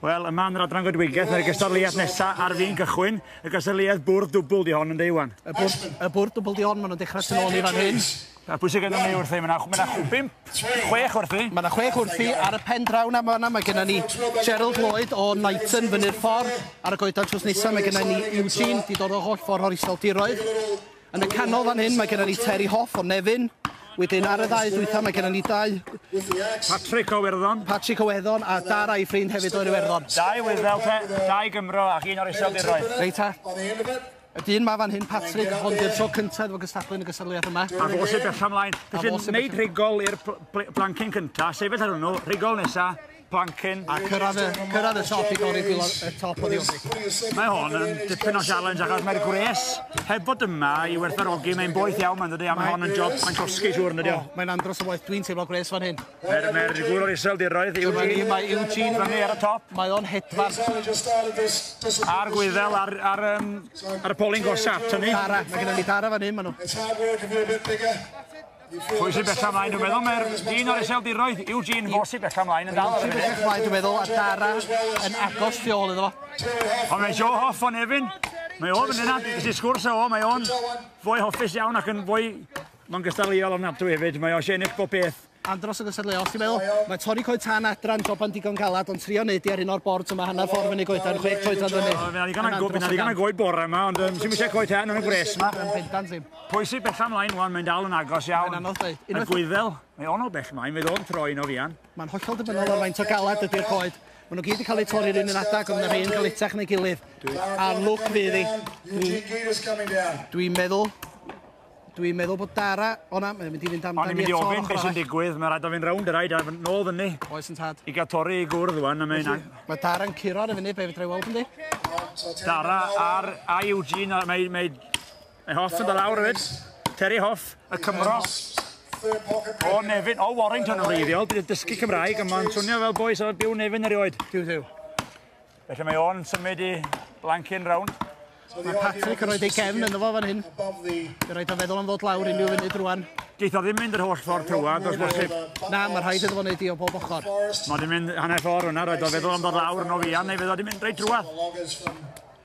Wel, yma yn yr adran goedwigaeth, mae'r gystadleuaeth nesaf ar fi'n gychwyn. Y gystadleuaeth bwrdd dwbl di hon yn deiwan. Y bwrdd, y bwrdd dwbl di hon, maen nhw'n dechrau tyn ôl i fan hyn. A pwy sy'n gennym ni wrthi? Mae yna chwbim, chwech wrthi. Mae yna chwech wrthi ar y pen draw na yna. Mae gennym ni Gerald Lloyd o Knighton fyny'r ffordd. Ar y goedan trws nesaf mae gennym ni Eugene, di dod o holl ffordd o'r iseldiroedd. Yn y canol fan hyn mae gennym ni Terry Hoff o Nefyn. Wedyn ar y ddau ddwytha mae gennym ni dau... Patrick o Werddon. Patrick o Werddon a dar a'i ffrind hefyd o'r Iwerddon. Dau wyddel te, dau Gymro ac un o'r iseldiroedd. Reit ta. Y dyn ma fan hyn, Patrick, ond i'r tro cyntaf efo gystadlu yn y gystadleuaeth yma. A fo sy'n bella ymlaen. Felly, wneud rhigol i'r blancyn cyntaf, sefyll ar hwnnw, rhigol nesaf. Plankin. A cyrraedd y, cyrraedd y top i godi gwylio y top o ddiofig. Mae hon yn dipyn o challenge achos mae'r gwres heb bod yma i werthfarogi, mae'n boeth iawn mae'n dod i am hon yn job mae'n cosgu siwr yn ydi o. Mae'n andros o waith, dwi'n teimlo gwres fan hyn. Mae'r mae gŵr o'r isel diroedd, Eugene. Mae Eugene fyny ar y top. Mae o'n hedfan. A'r gwyddel ar, ar, um, ar y polyn gosaf, tynnu. Dara, mae gennym ni dara fan hyn, maen nhw. Pwy sy'n bella mlaen, dwi'n meddwl, mae'r dyn o'r iseldiroedd, Eugene Fo sy'n bella mlaen yn dal ar y funud. Bella mlaen, dwi'n meddwl, a Dara yn agos tu ôl iddo fo. Ond mae Joe Hoff o'n efin. Mae o'n mynd yna, ges i sgwrs o, mae o'n fwy hoffus iawn ac yn fwy... Mae'n gystadleuol ofnadwy hefyd, mae o eisiau ennill bob beth. Andros o gystadleuol, ti'n meddwl? Mae Tori Coed Tan adra yn joban digon galad, ond trio wneud i ar un o'r bord yma hanner ffordd fyny goedan, chwe coedan fyny. Fyna ddigon o goed bore yma, ond sy'n mysio coed tan yn y gwres yma. Yn bendant ddim. Pwy sydd bella mlaen wan, mae'n dal yn agos iawn. Mae'n anodd dweud. Y gwyddel, mae ono bell mlaen, fe ddod troi yn o fian. Mae'n hollol dibynol ar faint o galad ydy'r coed. Maen nhw gyd yn cael eu torri'r un yn adag, ond rhain cael itach neu gilydd. A'r lwc fydd i. Dwi'n meddwl Dwi'n meddwl bod Dara o'na, mae'n mynd i fynd amdani eto. O'n i'n mynd i ofyn beth sy'n digwydd, mae'n rhaid o fynd rownd y rhaid a nôl fyny. Oes yn tad. I gael torri i gwrdd wan, a mae'n... Mae Dara yn curo ar y fyny, be fydra i weld yndi? Dara ar a Eugene, mae, mae Mae Hoff yn dod lawr hefyd. Terry Hoff, y Cymro. O Nefyn, o Warrington yn wreiddiol. Bydd y dysgu Cymraeg, ond mae'n swnio fel boes o'r byw Nefyn erioed. Tiw, tiw. Felly mae o'n symud i blancyn rownd. Mae Patrick yn rhoi ei cefn yn fo fan hyn. Fe rhaid o feddwl am ddod lawr unrhyw funud rwan. Geith o ddim mynd yr holl ffordd trwad, os bosib. Na, mae rhaid iddo fo wneud i o bob ochr. Mae wedi mynd hanner ffordd hwnna, roedd o feddwl am ddod lawr yn o fian, neu fe ddod i mynd reit drwad.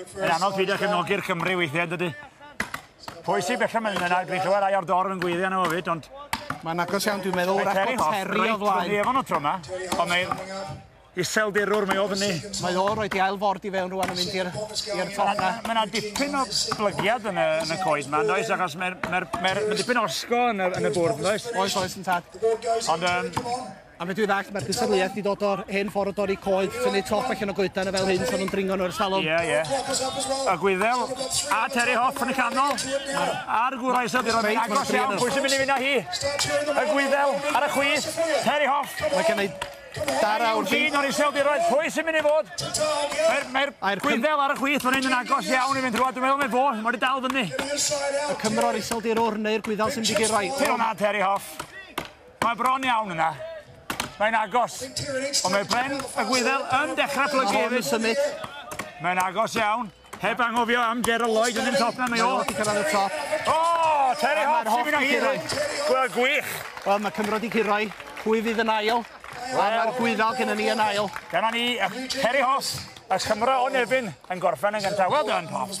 Yn anodd peidio cefnogi'r Cymru weithiau, dydy. Pwysig bellach mae'n mynd yna, dwi'n clywed rai o'r dorf yn gweiddi arno fo fyd, ond... Mae'n agos iawn, dwi'n meddwl, wrach bod Terry o flaen. Mae Efon o tro yma, ond mae iseldirwr, mae o fyny. Mae o roi di ail ford i fewn rwan yn mynd i'r top na. Mae yna dipyn o blygiad yn y, yn y coed yma, does, achos mae'r mae mae mae dipyn osgo yn y, yn y bwrdd, does? Oes, oes, yn tad. Ond, um, A fedrwch chi ddallt, mae'r cystadleuaeth wedi dod o'r hen ffordd o dorri coed, tynnu top allan o goedan a fel hyn pan nhw'n dringo nhw i'r salon. Ie, ie. Y Gwyddel a Terry Hoff yn y canol. A'r gwrau sydd wedi rhoi agos iawn, pwy sy'n mynd i fynd â hi? Y Gwyddel ar y chwith, Terry Hoff. Mae gen i dar awr. Mae gen i o'r iseldiroedd, pwy sy'n mynd i fod? Mae'r Gwyddel ar y chwith, mae'n mynd yn agos iawn i fynd rhywbeth. Dwi'n meddwl mae fo, mae wedi dal fyny. Y Cymro'r iseldirwr neu'r Gwyddel sy'n mynd i gyrraedd. Ti'n hwnna, Terry Hoff. Mae bron iawn yna. Mae'n agos. Ond mae Bren y Gwyddel yn dechrau plygu hefyd. symud. Mae'n agos iawn. Heb angofio am Gerald Lloyd yn y top na, mae o. Wedi cyrraedd y top. O, Terry Hoff sy'n mynd â hyd. Wel, gwych. Wel, mae Cymro di Ciroi. Pwy fydd yn ail? A mae'r Gwyddel gyda ni yn ail. Dyna ni, Terry Hoff, y Cymro o Nefyn, yn gorffen yn gyntaf. Wel done, Hoff.